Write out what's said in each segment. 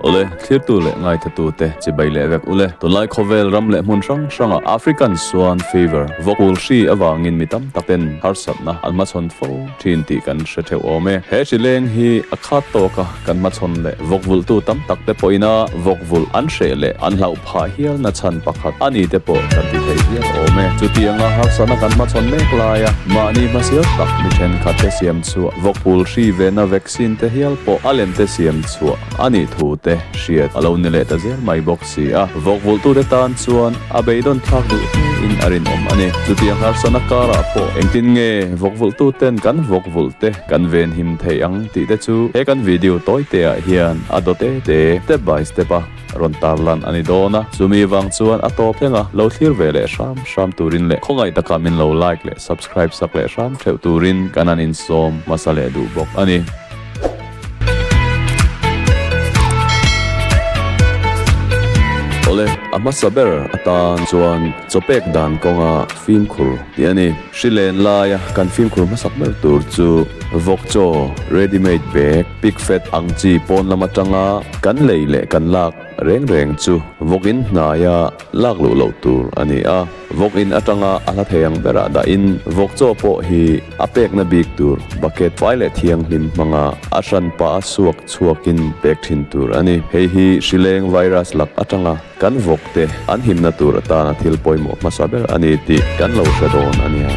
Ule, thirtu leh ngaithatu te chi bai leh vek ule. Tunlai khawvel ram leh hmun hrang hrang ah African Swan Fever, vawkul hri avangin mi tam tak in harsatna an hmachhawn fo thin tih kan hre theuh awm e. He hri leng hi a khat tawk a, kan hmachhawn leh vawkvulhtu tam tak te pawhin a vawkvulh an hreh leh an hlauh pawh. Phah hial na chhan pakhat a ni te pawh kan ti thei hial awm e. Chutianga harsatna kan hmachhawn mek lai a, mahni hmasial tak mi thenkhat te siam chhuah, vawkphul hri ve na vaccine te hial pawh a lem te siam chhuah a nih thu te hriat a lo ni leh ta zel mai bawk si a. Vawkvulhtu te tan chuan a beidaw'n thlak duh hle in a rinawm a ni. Chutiang harsatna karah pawh engtin nge vawkvulhtu ten kan vawkvulh te kan venhim thei ang tih te chu he kan video tawi te ah hian a daw te te, step by step, a. rawn tar lan a ni dawn a, chumi vang chuan a tawp enga lo thlir ve leh hram hram turin leh khawngaih taka min lo like leh subscribe sak leh hram theuh turin kan an insawm hmasa leh duh bawk a ni. Awle a hmasa ber atan chuan chawpek dan kawnga fimkhur Tih a ni. Hri len laia kan fimkhur hmasak ber tur chu vawk chaw, ready made bag, pick fat ang chi pawn lam atanga kan lei leh kan lak reng reng chu vawk in hnaia lak luh loh tur a ni a. Vawk in atanga a hla thei ang berah dahin vawk chaw pawh hi a pekna bik tur bucket pai leh thianghlim hmanga a hran pah a suak chhuak in pek thin tur a ni. Hei hi hri leng virus lak atanga. Kan vawkte an himna tur atana thil pawimawh hmasa ber a ni tih kan lo hre dawn a nia.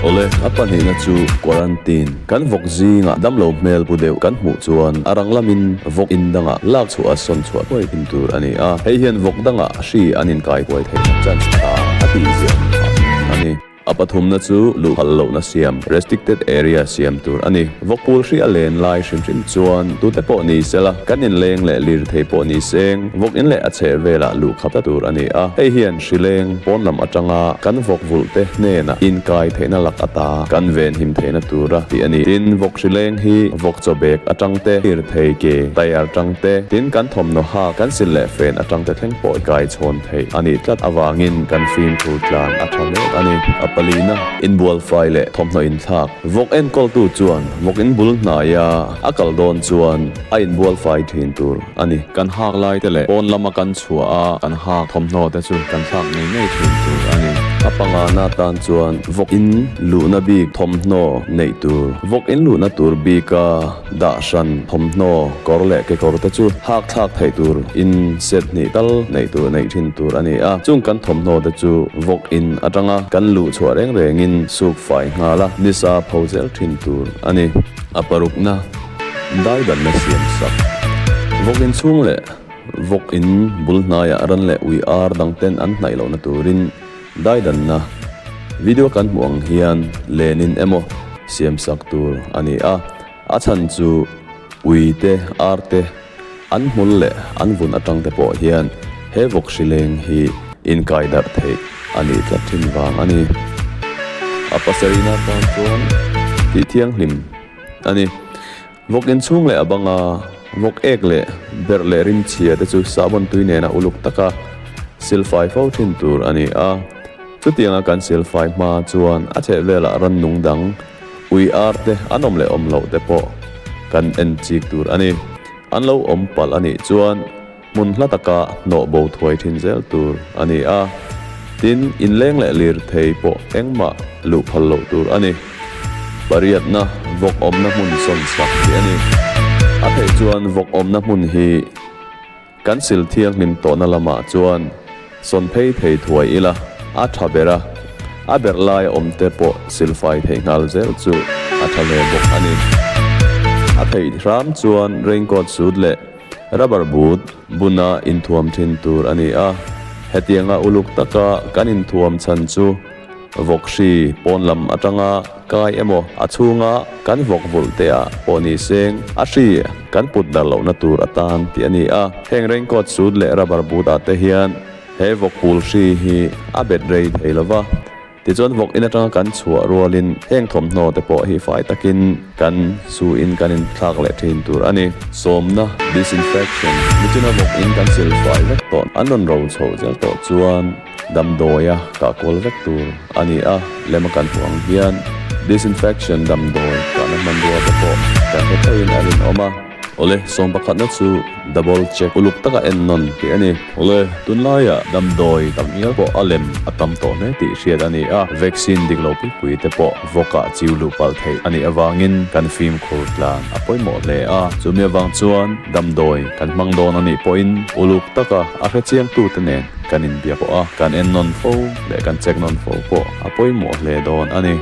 Awle, a pahnihna chu quarantine. Kan vawk zingah damlo hmel pu deuh kan hmuh chuan a ranglamin vawk in dangah lak chhuah a sawn chhuah hnuai thim tur a ni a, hei hian vawk dangah hri an inkai huai theihna chance a tang a tih ziah hmuh phah hmun a ni. A pathumna chu luhkhal lohna siam, restricted area, siam tur a ni. Vawkpul hri a len lai hrim hrim chuan tute pawh ni sela kan inleng leh lir thei pawh ni seng vawk in leh a chheh velah luhkhata tur a ni a. Hei hian hrileng pawnlam atanga kan vawk vulhte hnena inkai theihna lak ata kan venhim theihna tura tih a ni. Tin, vawk hrileng hi vawk chawbek atang te, lir thei ke, tyre tang te, tin kan thawmhnaw hak, kan sin leh fen atang te thleng pawh i kai chhawn. theih a nih tlat avangin kan fimkhur tlan a tha hle a ni. A palina inbualfai leh thawmhnaw inthlak vawk enkawltu chuan vawk in bul hnaia a kal dawn chuan a inbualfai thin tur a ni. Kan hak laite leh pawn lama kan chhuah a kan hak thawmhnaw te chu kan thlak ngei ngei thin tur a ni. A pangana tan chuan vawk in luhna bik thawmhnaw neih tur, vawk in luhna tur bika Dahran, thawmhnaw, kawr leh kekawr te chu hakthlak theih tur in set hnih tal neih tur neih thin tur a ni a, chung kan thawmhnaw te chu vawk in atanga kan luh chhuah reng reng in suk fai nghal a ni sa pho zel thin tur a ni. A parukna, daidanna siam sak, vawk in chhung leh vawk in bul hnai ah ran leh ui ar dang ten an hnaih lohna tur in, Daidanna, Video kan hmuh ang hian lenin emaw siam sak tur a ni a, a chhan chu ui te ar te an hmul leh an vun atang te pawh hian he vawk hri leng hi inkai darh theih a nih tlat thin vang a ni. A pasarihna tan chuan tih thianghlim a ni. Vawk inchhung leh a banga vawk ek leh berh leh rim chhia te chu sahbawntui nena uluk taka silfai fo thin tur a ni a. Chutianga kan silfai hma chuan a chhehvelah rannung dang, ui ar te an awm leh awm loh te pawh kan en chik tur a ni. An lo awm palh a nih chuan, Hmun hla taka hnawh bo thuai thin zel tur a ni a, tin inleng leh lirthei pawh engmah luh phal loh tur a ni. Pariatna vawk awmna hmun sawn chak tih a ni. A theih chuan vawk awmna hmun hi kan sil thianghlim tawhna lamah chuan sawn phei thei thuai ila, a tha ber a, a ber laia awmte pawh silfai theih nghal zel chu a tha hle bawk a ni. A theih hram chuan raincoat suit leh Rubber boot buna inthuam thin tur a ni a, hetianga uluk taka kan inthuam chhan chu vawk hri pawn lam atanga kai emaw a chhunga kan vawk vulh te ah pawh ni seng a hri kan put dar lohna tur a tan tih a ni a. Heng raincoat suit leh rubber boot ah te hian he vawk pul hri hi a bet rei thei lo va. Tichuan vawk in atanga kan chhuah rualin heng thawmhnaw te pawh hi fai takin kan suin kan inthlak leh thin tur a ni. Sawmna, Disinfection, nichina vawk in kan sil fai vek tawh an rawn ro chho zel tawh chuan damdawiah kahkual vek tur a ni a, lem a kan hmuh ang hian Disinfection damdawi kahna hmanrua te pawh kan hre theihin a rinawm a. Awle, sawm pakhatna chu double check uluk taka en nawn tih a ni. Awle, tunlaia damdawi tam ngial pawh a lem a tam tawh hle tih hriat a ni a, vaccine dik lo pui pui te pawh vawka chiu luh palh theih a nih avangin kan fim khur tlan a pawimawh hle a. Chumi avang chuan damdawi kan hmang dawn a nih pawhin uluk taka a hre chiangtute nen kan inbia pawh a, kan en nawn fo leh kan check nawn fo pawh a pawimawh hle dawn a ni.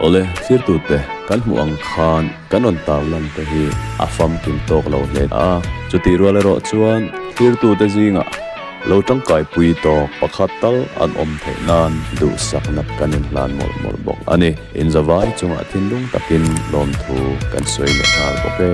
Awle, thlir tute kan hmuh ang khan. Kan rawn tau lan te hi a famkim tawk lo hle a, chutih rual erawh chuan thirtute zingah lo tangkai pui tawk pakhat tal an awm theih nan duhsakna kan inhlan mawlh mawlh bawk a ni. Inzavai chungah thinlung takin lawmthu kan sawi leh nghal bawk e.